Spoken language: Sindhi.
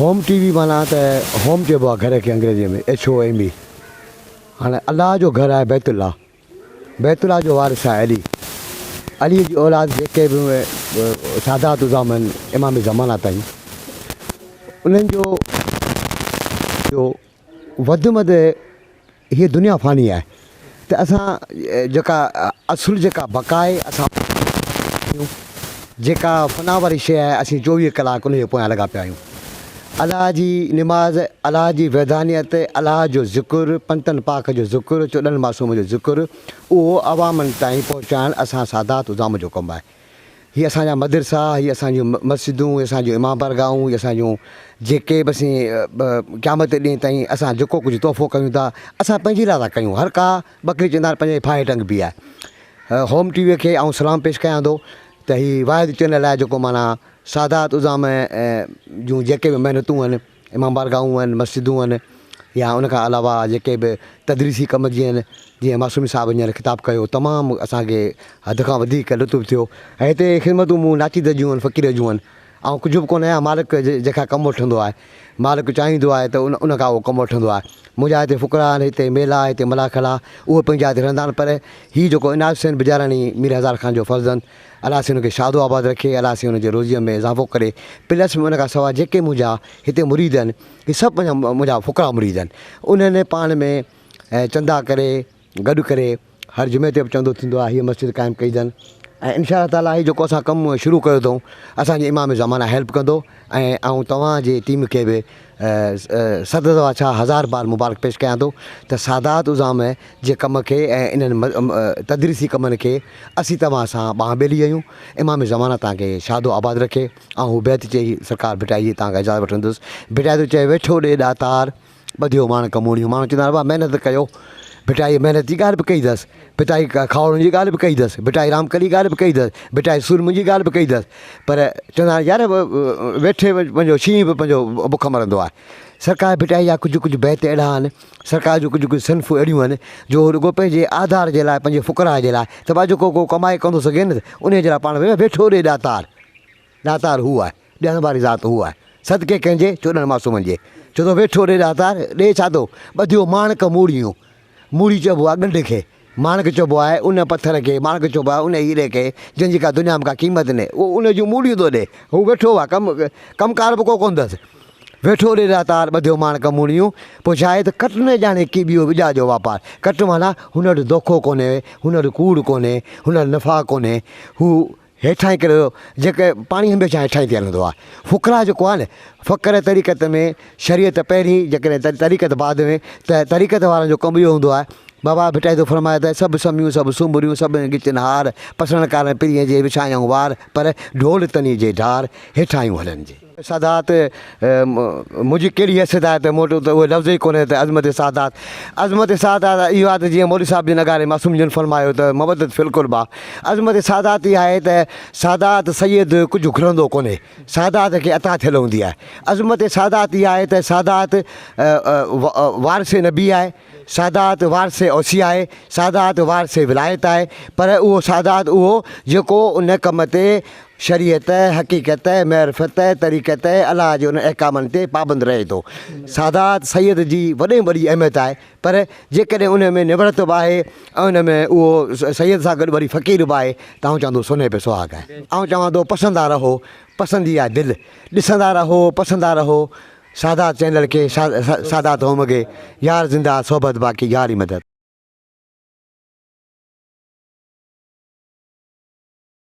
هوم ٽي وي معنيٰ ته هوم چئبو آهي گهر کي انگريزيء ۾ HOME هاڻي الله جو گهر آهي بيت الله بيت الله جو وارث آهي علي علي جي اولاد جيڪي به سادات الزام آهن امام زمانه تائين انهن جو جو وڌ مد هيء دنيا فاني آهي ته اسان جيڪا اصل جيڪا بقا آهي اسان آهيون جيڪا فنا واري شيء آهي اسين چوويهه ڪلاڪ ان جي پويان لڳا پيا آهيون الله جي نماز الله جي وحدانيت الله جو ذڪر پنتن پاڪ جو ذڪر چوڏهن معصوم جو ذڪر اهو عوامن تائين پهچائڻ اسان سادات عظام جو ڪم آهي هي اسان جا مدرسا، هي اسان جون مسجدون، هي اسان جون امام بارگاهون، هي اسان جون جيڪي به سين قيامت جي ڏينهن تائين اسان جيڪو ڪجهه تحفو ڪيون ٿا، اسان پنهنجي لاء ٿا ڪيون. هر ڪا ٻڪري چوندا آهن پنهنجي ڦاهي ٽنگ بي آهي. هوم ٽي وي کي آئون سلام پيش ڪيان ٿو ته هي واحد چينل آهي جيڪو معنيٰ سادات عظام جون جيڪي به محنتون آهن، امام بارگاهون هئن، مسجدون هئن يا ان کان علاوه جيڪي به تدريسي ڪم جيئن جيئن معصومي صاحب هينئر خطاب ڪيو تمام اسان کي حد کان وڌيڪ لطف ٿيو ۽ هتي خدمتون مون ناچيز جون هئن فقير جون هئن آئون ڪجهه به ڪونه آهيان مالڪ جنهن کان ڪم وٺندو آهي مالڪ چاهيندو آهي ته ان ان کان هو ڪم وٺندو آهي منهنجا هتي فقرا آهن هتي ميلا آهي هتي ملاح کلا اهي پنهنجي جاء تي رهندا آهن پر هي جيڪو عنايت حسين بجاراڻي مير هزار خان جو فرزند الله سائين ان کي شاد و آباد رکي الله سائين ان جي روزيء ۾ اضافو ڪري پلس ۾ ان کان سواء جيڪي منهنجا هتي مريد آهن هي سڀ پنهنجا منهنجا فقرا مريد آهن انهن پاڻ ۾ چندا ڪري گڏ ڪري هر جمعي تي به چندو ٿيندو آهي هي مسجد قائم ڪئي اٿن ۽ انشاء الله تعالٰي هي جيڪو اسان ڪم شروع ڪيو اٿئون اسانجي امام زمانه هيلپ ڪندو ۽ آئون توهان جي ٽيم کي به صدر توهان ڇا هزار بار مبارڪ پيش ڪيان ٿو ته سادات عظام جي ڪم کي ۽ انهن تدريسي ڪمن کي اسين توهان سان ٻانهن ٻيلي آهيون امام زمانه توهان کي شاد و آباد رکي آئون هو بيت چئي سرڪار ڀٽائي جي توهان کان اجازت وٺندس ڀٽائي ٿو چئي ويٺو ڏي ڏاتار ٻڌيو ماڻڪ مونيون ماڻڪ چوندو آهي ڀاء محنت ڪيو ڀٽائي محنت جي ڳالهه به ڪئي اٿس ڀٽائي کاهوڙن جي ڳالهه به ڪئي اٿس، ڀٽائي رامڪلي جي ڳالهه به ڪئي اٿس، ڀٽائي سورمن جي ڳالهه به ڪئي اٿس پر چوندا آهن يار ويٺي پنهنجو شينهن به پنهنجو بک مرندو آهي. سرڪار ڀٽائي جا ڪجهه ڪجهه بيت اهڙا آهن، سرڪار جون ڪجهه ڪجهه صنفون اهڙيون آهن جو هو رڳو پنهنجي آڌار جي لاء، پنهنجي فقراء جي لاء ته ڀا جيڪو ڪو ڪمائي ڪندو سگهي نه انهيء جي لاء پاڻ ويٺو ڏي ڏاتار. ڏاتار هو آهي، ڏيڻ واري ذات هو آهي، صدقي ڪنهن جي، چوڏهن معصومن جي. چون ٿو ويٺو ڏي ڏاتار، ڏي ڇا ٿو، ٻڌيو ماڻڪ موڙيون. موڙي چئبو آهي ڳنڍ کي، ماڻڪ چئبو آهي ان پٿر کي، ماڻڪ چئبو آهي ان هيري کي، جنهن جي ڪا دنيا ۾ ڪا قيمت ني، اهو ان جون موڙيون ٿو ڏي. هو ويٺو آهي، ڪم ڪم ڪار به ڪو ڪونه اٿس. ويٺو ڏي ڏاتار، ٻڌيو ماڻڪ موڙيون. پوء ڇا آهي ته ڪٽ نه ڄاڻي ڪي ٻيو ٻجا جو واپار. ڪٽ معنيٰ هن وٽ دوکو ڪونهي، هن وٽ ڪوڙ ڪونهي، هن وٽ نفاق ڪونهي، هو هيٺاهين ڪري ٿو جيڪڏهن پاڻي هميشه هيٺاهين ٿي هلندو آهي فقراء جيڪو آهي نه فقر طريقت ۾ شريعت پهرين جيڪڏهن طريقت بعد ۾ ته طريقت وارن جو ڪم اهو هوندو آهي بابا ڀٽائي ٿو فرمائي ته سڀ سميون سڀ سنبريون سڀ ڳچن هار پسڻ ڪارڻ پرينء جي وڇائيائون وار پر ڍول تني جي ڍار هيٺاهيون هلن جي. سادات، منهنجي ڪهڙي حيثيت آهي ته مون وٽ اهو لفظ ئي ڪونهي ته عظمت سادات، عظمت سادات اهو آهي ته جيئن مولوي صاحب جي نغاري معصوم جن فرمايو ته مودت في القربيٰ، عظمت سادات اها آهي ته سادات سيد ڪجهه گهرندو ڪونهي، سادات کي عطا ٿيل هوندي آهي. عظمت سادات اها آهي ته سادات وارث نبي آهي. سادات وارث اوصي آهي، سادات وارث ولايت آهي، پر اهو سادات اهو جيڪو ان ڪم تي شريعت، حقيقت، معرفت، طريقت، الله جي انهن احڪامن تي پابند رهي ٿو. سادات سيد جي وڏي ۾ وڏي اهميت آهي، پر جيڪڏهن ان ۾ نوڙت به آهي ۽ ان ۾ اهو سيد سان گڏ وري فقير به آهي ته آئون چوان ٿو سونهن پي سهاڳ آهي. آئون چوان ٿو پسندا رهو، پسندي آ دل، ڏسندا رهو، پسندا رهو، سادات چينل کي سادات هوم گي يار زنده آ صحبت باقي يار ئي مدد.